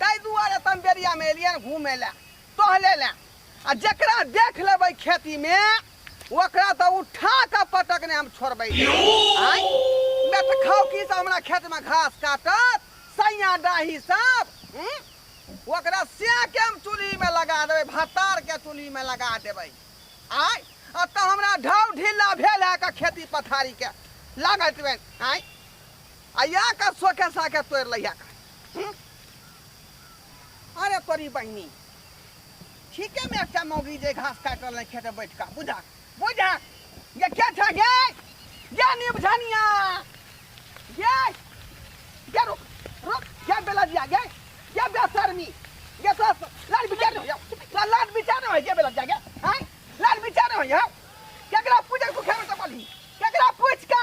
ताहि दुआरे तऽ हम बेरियामे एलियै ने घूमे लए टहले लए आ जकरा देख लेबै खेतीमे ओकरा तऽ उठा कऽ पटकने हम छोड़बै नहि। आँय बेट खाउ की सब हमरा खेतमे घास काटत सैया डाही सब हूँ? ओकरा से के हम चूल्हिमे लगा देबै भत्तारके चूल्हिमे लगा देबै आँय आ तऽ हमरा ढाउ ढिल्ला भेल है के खेती पथारीके लागत आँय आ या कर सोखे साखे तोड़ लिया कर हम्म? अरे तोरी बहनी ठीके में एकटा मौगी जे घास काट रहल खेते बैठ का बुझा बुझा ये क्या था गे ये नीम धनिया ये ये रुक रुक ये बेला दिया गे ये बेसरमी ये तो लाल बिचार हो या लाल बिचार हो ये बेला दिया गे हां लाल बिचार हो या केकरा पूजे को खेमे तो बोली केकरा पूछ का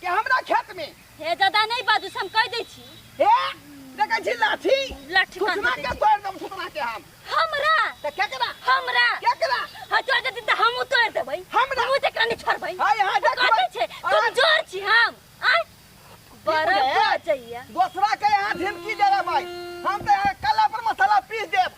के हमरा खेत में हे दादा नहीं बाजू से हम कह दै छी हे देखै छी लाठी लाठी कान सुषमा के तोड़ देब सुषमा के हम हमरा त केकरा हमरा केकरा हाँ तोड़ देती तो हम तोड़ देबै हमरा? हम तकरा नहीं छोड़बै हाय, हाय, तो देखबै। कहते छै तुम अहाँ- जोर छी हम आय बड़ा बुझलियै? बचैया दोसरा के यहाँ झिमकी दे रहे भाई हम तो यहाँ कला पर मसाला पीस देब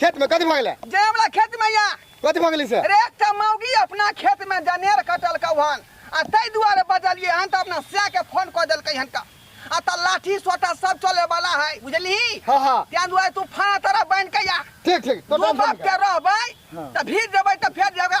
खेत में कथी भगले जे हमरा खेत में या कथी भगली से अरे एक टा मौगी अपना खेत में जनेर कटल कौहन आ ताहि दुआरे बजलिए हन तऽ अपना सैह के फोन कऽ देलकै हन का आ तऽ लाठी सोटा सब चले वाला है बुझलिही हाँ हाँ ताहि दुआरे तू फाना तरह बन के या ठीक ठीक तो दू टाइम बाप के रहबै हाँ। तऽ भीड़ जेबै तऽ फेर जेबै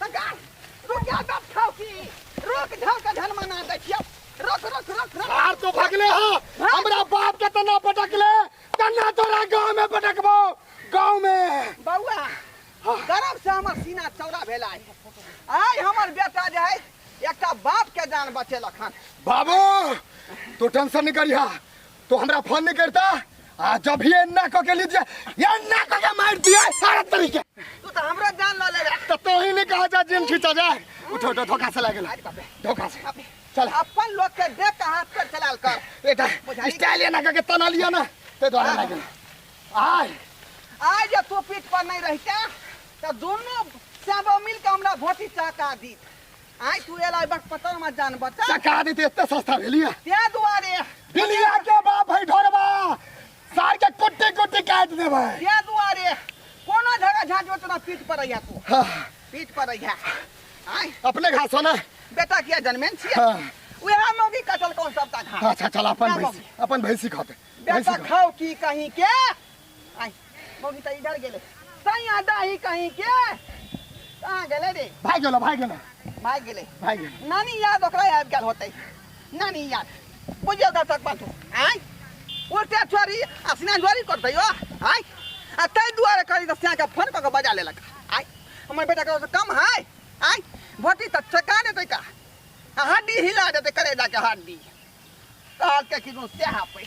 सरकार रुक जा बाप खाओ की रुक जाओ का धन मना दे छियो रुक रुक रुक रुक बाहर तो भगले हो हमरा बाप के तना पटकले तना तोरा गांव में पटकबो गांव में बउआ गर्व से हमर सीना चौड़ा भेला है। आइ हमर बेटा जे है एकटा बाप के जान बचेलक हन बाबू तू टेंशन नहीं करिहा तो हमरा फोन नहीं करता आ जब ही एन्ना क के लीजिए एन्ना क के मार दिए सारा तरीके तू तो हमरा जान ला ले तो तो ही नहीं कहा जा जिन खींचा जा उठो उठो धोखा से लगे धोखा से चल अपन लोग के देख के हाथ पर चलाल कर बेटा स्टाइल एन्ना क के तना लिया ना ते द्वारा लगे आय आज जब तू पीठ पर नहीं रहता तो दोनों सब मिल के हमरा भोटी चाका दी आइ तू एला बक पता मत जान बच्चा टका देते एते सस्ता भेलिया ते दुआरे भेलिया के बाप है ढोरबा सार के कुट्टी कुट्टी काट देबै ते दुआरे कोनो जगह झाट ओतना पीठ पर आइया तू हाँ, पीठ पर आइया आइ अपने घास हो ना बेटा किया जन्मेन छिए हाँ। उहे मौगी कटल कौन सबटा घाट अच्छा चल अपन ना भैंसी अपन भैंसी खाते भैंसी बेटा खा। खाओ की कहीं के आई मौगी तो इधर गेले सैया दाही कहीं के कहाँ गेले रे भाग गेलो भाग गेलो भाग गेले भाग गेलो नानी याद ओकरा आबि गेल होतै नानी याद बुझियो ओकर तक बात आई उल्टे छोरी आ सिनान जोरी करतै यो आई आ ताहि दुआरे करी तऽ सियाके फोन कऽ कऽ बजा लेलक आई हमर बेटा ककरो से कम है आई भोटी तऽ चका देतै का आ हड्डी हिला देतै करेलाके हड्डी कहलकै कि से हापै